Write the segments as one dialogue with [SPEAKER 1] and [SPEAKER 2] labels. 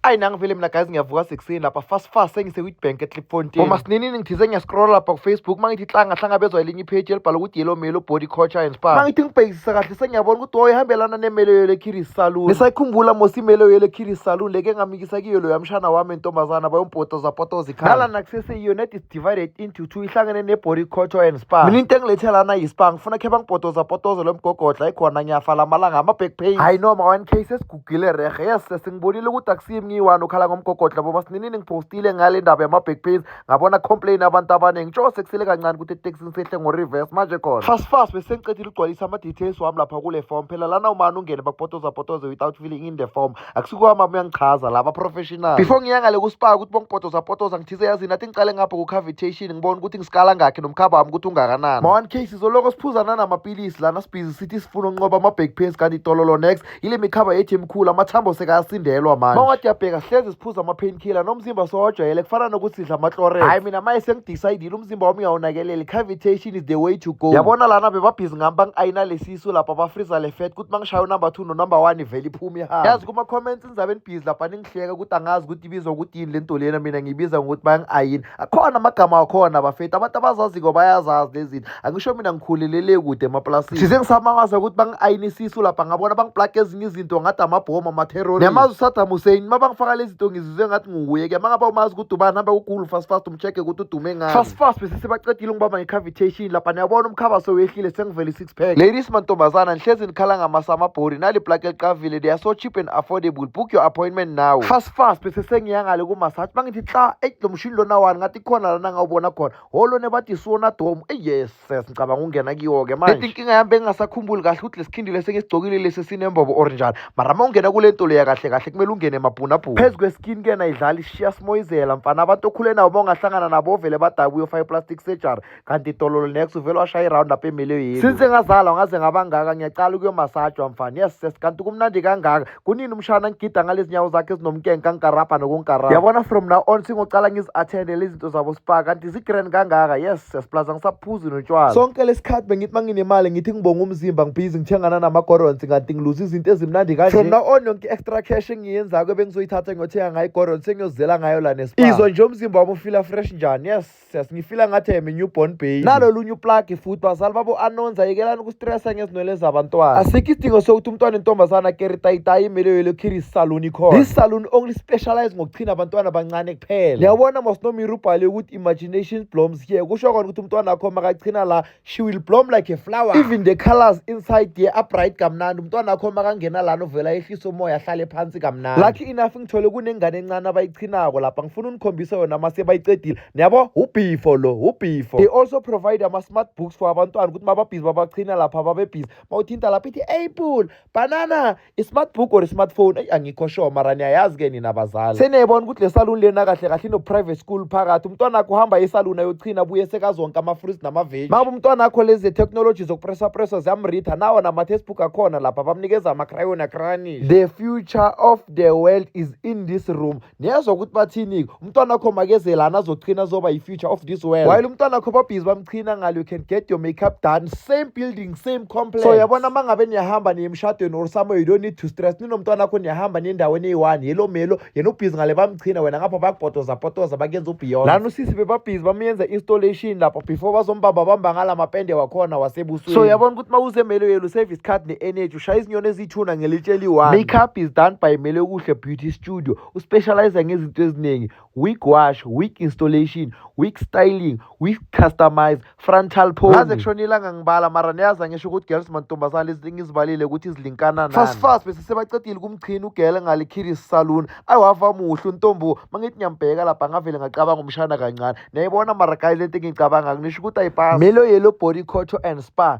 [SPEAKER 1] ayi nangivele mina guys ngiyavuka sekuseni lapha fast fast sengisewitbank etlipfontein uma sininini ngithize ngiyascrolla lapha kufacebook uma ngithi hlanga hlangabezwa elinye ipage elibhala ukuthi yellow melo body culture and spa uma ngithi ngibhekisisa kahle sengiyabona ukuthi woye ihambelana nemelo yelo ekiris saloon ngisayikhumbula mos imelo yelo ekiris saloon leke ngamikisa kiyo loyo amshana wami entombazana bayompotoza potoza ikhaya nalana kuseseyiyo net is divided into two ihlangene nebody culture and spa mina into engilethe lana yispa ngifuna khe bangipotoza potoza lo mgogodla ikhona ngiyafa lamalanga ama-back pain hayi noma 1 k Gile rehe yes sesingibonile ukuthi akusiyi mngiyiwani okhala ngomgogodla boma sininini ngipostile ngale ndaba yama-back pains ngabona complain abantu abaningi njengoba sekusele kancane ukuthi etekisini sehle ngo-reverse manje khona fast fast bese ngicedile ukugcwalisa ama-details wami lapha kule form phela lana umane ungene bakupotoza potoze without filling in the form akusikwami ami uyangichaza laba professional before ngiya ngale kusipaka ukuthi bongipotoza potoza ngithize yazini athi ngiqale ngapha ku-cavitation ngibona ukuthi ngisikala ngakhe nomkhaba wami ukuthi ungakanani ma-one case izoloko siphuzana namapilisi lana sibhizi sithi sifuna unqoba ama-back pains kanti itololo next yile mikhaba yethu emikhulu amathambo sekayasindelwa manje mawade yabheka hlezi siphuza ama-painkiller nomzimba sowajwayele kufana nokuthi sidla ama-chlorets hhayi mina maye sengidecidile umzimba wami uyawunakeleli cavitation is the way to go yabona lana bebabhizi ngami bangi-ayina lesisu lapha bafriza le fat kuthi mangishaya unumber two nonumber one ivele iphume ihamba yazi kuma-comments inzabe enibhizi lapha kuhleka ukuthi angazi ukuthi ibizwa ukuthi yini le nto lena mina ngiyibiza ngokuthi bayangi-ayini akhona amagama akhona bafethu abantu abazaziko bayazazi lezi zinto angisho mina ngikhulelele kude emaplasini thize ngisamangaza ukuthi bangi-ayinisisu lapha ngabona bangiplage ezinye izinto ngathi amabhomu amaterrori niyamazi usadam hussein uma bangifaka lezi zinto ngizizwe ngathi nguwuye ke mangaba umazi ukuthi ubani hambe kugulu fast fast umcheck ukuthi udume ngani fast fast besesebaqedile ngibamba nge-cavitation lapha niyabona umkhabaso wehlile sengivele Respect. Ladies mantombazana nihlezi nikhala ngamasamabhori nali plug eliqavile they are so cheap and affordable book your appointment now fast fast bese sengiyangale kumassage bangithi hla eyi lo mshini lona wani ngathi khona lana ngawubona khona holo nebathi siwona domu eyi yes ses ngicabanga ukungena kiwo-ke manje leti inkinga yami bengingasakhumbuli kahle ukuthi lesigindile sengisigcokile lesi sinembobo or njani mara ma ungena kule nto leya kahle kahle kumele ungene emabhunabhuna phezu kweskin kena idlala ishiya simoyizela mfana abantu okhule nabo ma ungahlangana nabo ovele badabuye ofake plastic surgery kanti idololo next uvele washaya iround up emiliyweni since ngazalwa ngaze ngabangaka ngiyacala ukuyomasajwa mfana yes yes kanti kumnandi kangaka kunini umshana ngigida ngalezi nyawo zakhe ezinomkenke kangikarabha nokungikarabha yabona from now on singocala ngizi-attendele izinto zabo spa kanti zi-grand kangaka yes yes plus angisaphuzi notshwala sonke lesikhathi bengithi uma nginemali ngithi ngibonga umzimba ngibhizi ngithengana namagorons kanti ngiluza izinto ezimnandi kanje from now on yonke i-extra cash engiyenzako ebengizoyithatha ngiyothenga ngayo igorons sengiyozela ngayo la nespa izwa nje umzimba wami ufila fresh njani yes stress ngifila ngathi am new born baby nalo lunye uplug futhi bazali babo anonza yekelani ukustressa ngezinwele zabantwana asikho isidingo sokuthi umntwana intombazana keri tayitayi imele yelo kiri salon ikhona this salon only specialize ngokuchina abantwana abancane kuphela niyabona mosnomiri ubhale ukuthi imagination bloms here kusho kona ukuthi umntwana wakho makachina la she will bloom like a flower even the colors inside ye are bright kamnandi umntwana akho makangena lana uvela ehlisa umoya ahlale phansi kamnandi lucky enough ngithole kunengane encane abayichinako lapha ngifuna unikhombisa yona uma sebayicedile niyabo ubhifo lo ubhifo they also provide ama-smart books for abantwana ukuthi mababhizi babachina lapha babebhizi mawuthinta lapha ithi apple banana i-smart book or i-smartphone eyi angikho sure mara niyayazi-ke nina bazali seniyayibona ukuthi le saluni lena kahle kahle ino-private school phakathi umntwana akho uhamba isaluni ayochina buye sekazonke ama-fruits namaveji maba umntwana akho lezi ze-technology zokupresapresa ziyamritha nawo nama-textbook akhona lapha bamnikeza ama-crayon akranish the future of the world is in this room niyezwa ukuthi bathini-ke umntwana wakho makeze lana azochina azoba yi-future of this world while umntwana wakho babhizi bamchina ngalo you can get your makeup done same building same complex so yabona uma ngabe niyahamba niye emshadweni or somewhere you don't need to stress ninomntwana wakho niyahamba niye endaweni eyi-one yelo melo yena ubhizi ngale bamchina wena ngapha bakupotoza potoza bakuyenza ubeyond lana usisi bebabhizi bamyenza installation lapho before bazombamba bamba ngala mapende wakhona wasebusweni so yabona ukuthi uma usemelo yelo service card ne-energy ushaya izinyoni eziyithuna ngelitshe eliyi-one makeup is done by mele kuhle beauty studio uspecialize ngezinto eziningi wig wash wig installation wig styling wig customize frontal pose ngaze kushona ilanga ngibala mara niyazi angisho ukuthi girls mantombazane lezi ngizibalile ukuthi zilinkana nani fast fast bese sebacedile kumchini ugele ngale kiris saloon ayiwava muhle untombo mangithi ngiyambheka lapha ngavele ngacabanga umshana kancane niyayibona mara guys lento engiyicabanga ngisho ukuthi ayipasi melo yellow body cotto and spa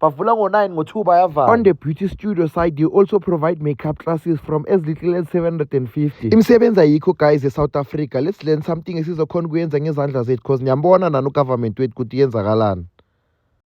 [SPEAKER 1] bavula ngo-9 ngo-2 bayavala on the beauty studio side they also provide makeup classes from as little as 750 imisebenzi ayikho guys e-south africa let's learn something esizokhona ukuyenza ngezandla zethu because niyambona nani ugovernment wethu ukuthi yenzakalani